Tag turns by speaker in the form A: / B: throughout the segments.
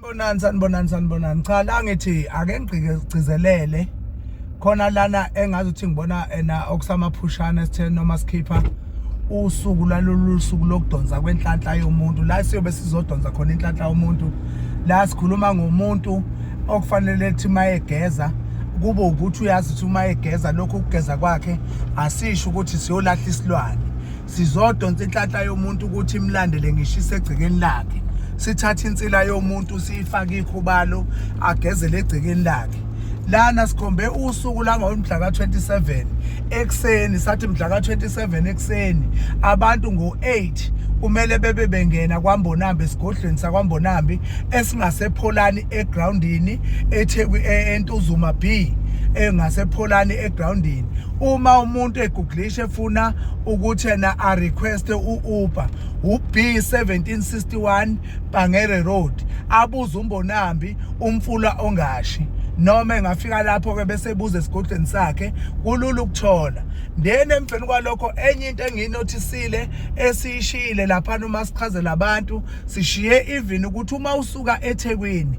A: Sanibonani sanibonani sanibonani cha la ngithi ake ngigcizelele khona lana engazi ukuthi ngibona ena okusamaphushana sithe noma sikhipha usuku lalolu suku lokudonsa kwenhlanhla yomuntu la siyobe sizodonsa khona inhlanhla yomuntu la sikhuluma ngomuntu okufanele ukuthi mayegeza kube ukuthi uyazi ukuthi uma egeza lokho ukugeza kwakhe asisho ukuthi siyolahla isilwane sizodonsa inhlanhla yomuntu ukuthi imlandele ngisho isegcekeni lakhe sithatha insila yomuntu siyifake ikhubalo agezele egcekeni lakhe lana sikhombe usuku langomhla ka-27 ekuseni sathi mhla ka-27 ekuseni abantu ngo-8 kumele bebe bengena kwambonambi esigodlweni sakwambonambi esingasepholani egroundini etheku e-, entuzuma b engasepholani egroundini uma umuntu eguglisha efuna ukuthi yena a request u-uber ub1761 bangere road abuze umbonambi umfula ongashi noma engafika lapho ke bese ebuza esigodlweni sakhe kulula ukuthola then emveni kwalokho enye into engiyinothisile esiyishiyile lapha uma sichazela abantu sishiye even ukuthi uma usuka eThekwini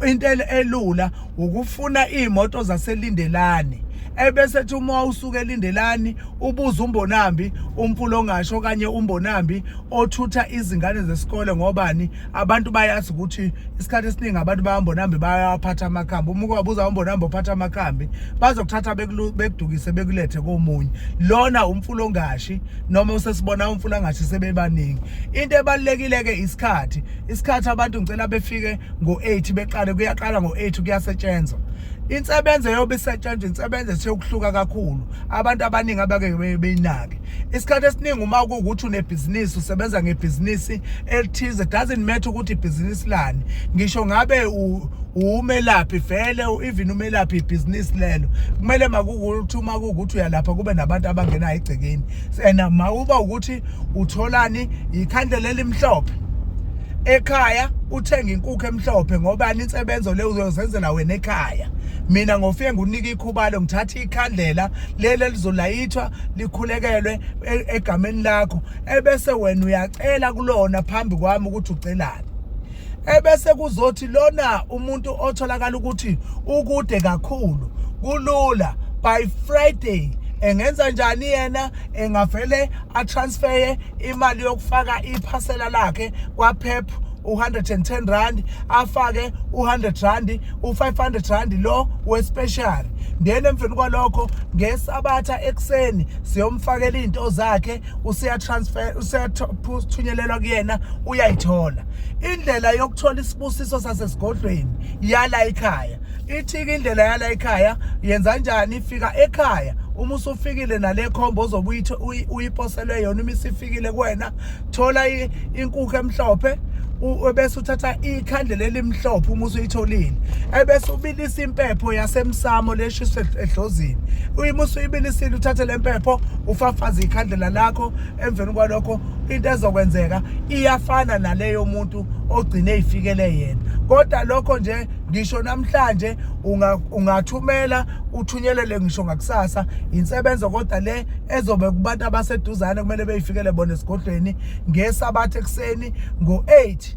A: into elula ukufuna iy'moto zaselindelane ebese ethi uma usuke elindelani ubuza umbonambi umfulo ongasho okanye umbonambi othutha izingane zesikole ngobani abantu bayazi ukuthi isikhathi esiningi abantu bayambonambi bayawaphatha amakhambi uma ubabuza umbonambi ophatha amakhambi bazokuthatha bekudukise bekulethe komunye lona umfulo ongashi noma usesibona umfulo angashi sebebaningi into ebalulekile-ke isikhathi isikhathi abantu ngicela befike ngo-8 beqale kuyaqala ngo-8 kuyasetshenzwa insebenzo eyobe isetshenzwa insebenzo esekuhluka kakhulu abantu abaningi abake beyinake isikhathi esiningi uma kuwukuthi unebhizinisi usebenza ngebhizinisi elithize doesn't matter ukuthi ibhizinisi lani ngisho ngabe umelaphi vele even umelaphi ibhizinisi lelo kumele makukuthi uma kuwukuthi uyalapha kube nabantu abangenayo egcekeni and mawuba ukuthi utholani yikhandlela elimhlophe ekhaya uthenga inkukhu emhlophe ngoba insebenzo le uzozenzela wena ekhaya mina ngofike ngunika ikhubalo ngithatha ikhandlela leli lizolayithwa likhulekelwe e-, egameni lakho ebese wena uyacela kulona phambi kwami ukuthi ucelani ebese kuzothi lona umuntu otholakala ukuthi ukude kakhulu kulula by Friday engenza njani yena engavele atransfere imali yokufaka iphasela lakhe kwaPep u110 rand afake u100 rand u500 rand lo wespecial then emveni kwalokho ngesabatha ekseni siyomfakela izinto zakhe useyatransfer useyathunyelelwa kuyena uyayithola indlela yokuthola isibusiso sasesigodlweni yala ekhaya ithika indlela yala ekhaya yenza kanjani ifika ekhaya uma usufikile nale khombo ozobe uyiposelwe yona uma isifikile kuwena thola inkukhu emhlophe ebese uthatha ikhandlela elimhlophe uma usuyitholile ebese ubilisa impepho yasemsamo leshiswe edlozini uma usuyibilisile uthathe le mpepho ufafaze ikhandlela lakho emveni kwalokho into ezokwenzeka iyafana naleyo muntu ogcine ifikele yena kodwa lokho nje ngisho namhlanje ungathumela uthunyelele ngisho ngakusasa insebenzo kodwa le ezobe kubantu abaseduzane kumele beyifikele bona esigodlweni ngesabathe ekuseni ngo-8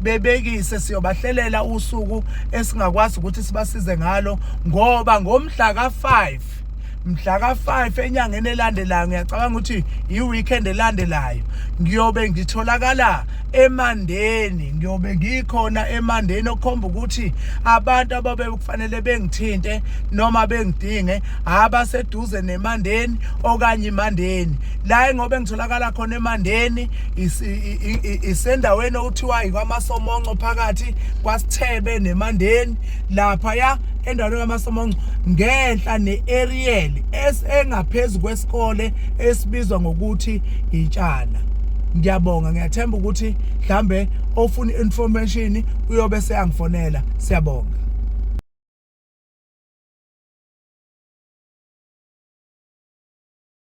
A: bebekise siyobahlelela usuku esingakwazi ukuthi sibasize ngalo ngoba ngomhla ka-5 mhla ka-5 enyangeni elandelayo ngiyacabanga ukuthi yi-weekend elandelayo ngiyobe ngitholakala emandeni ngiyobe ngikhona emandeni okukhomba ukuthi abantu ababe kufanele bengithinte noma bengidinge abaseduze nemandeni okanye imandeni la ngobe ngitholakala khona emandeni isendaweni okuthiwa ikwamasomonco phakathi kwasithebe nemandeni lapha ya endaweni kamasomonco ngenhla ne-ariel esengaphezu kwesikole esibizwa ngokuthi intshana ngiyabonga ngiyathemba ukuthi mhlambe ofuna information uyobe seyangifonela siyabonga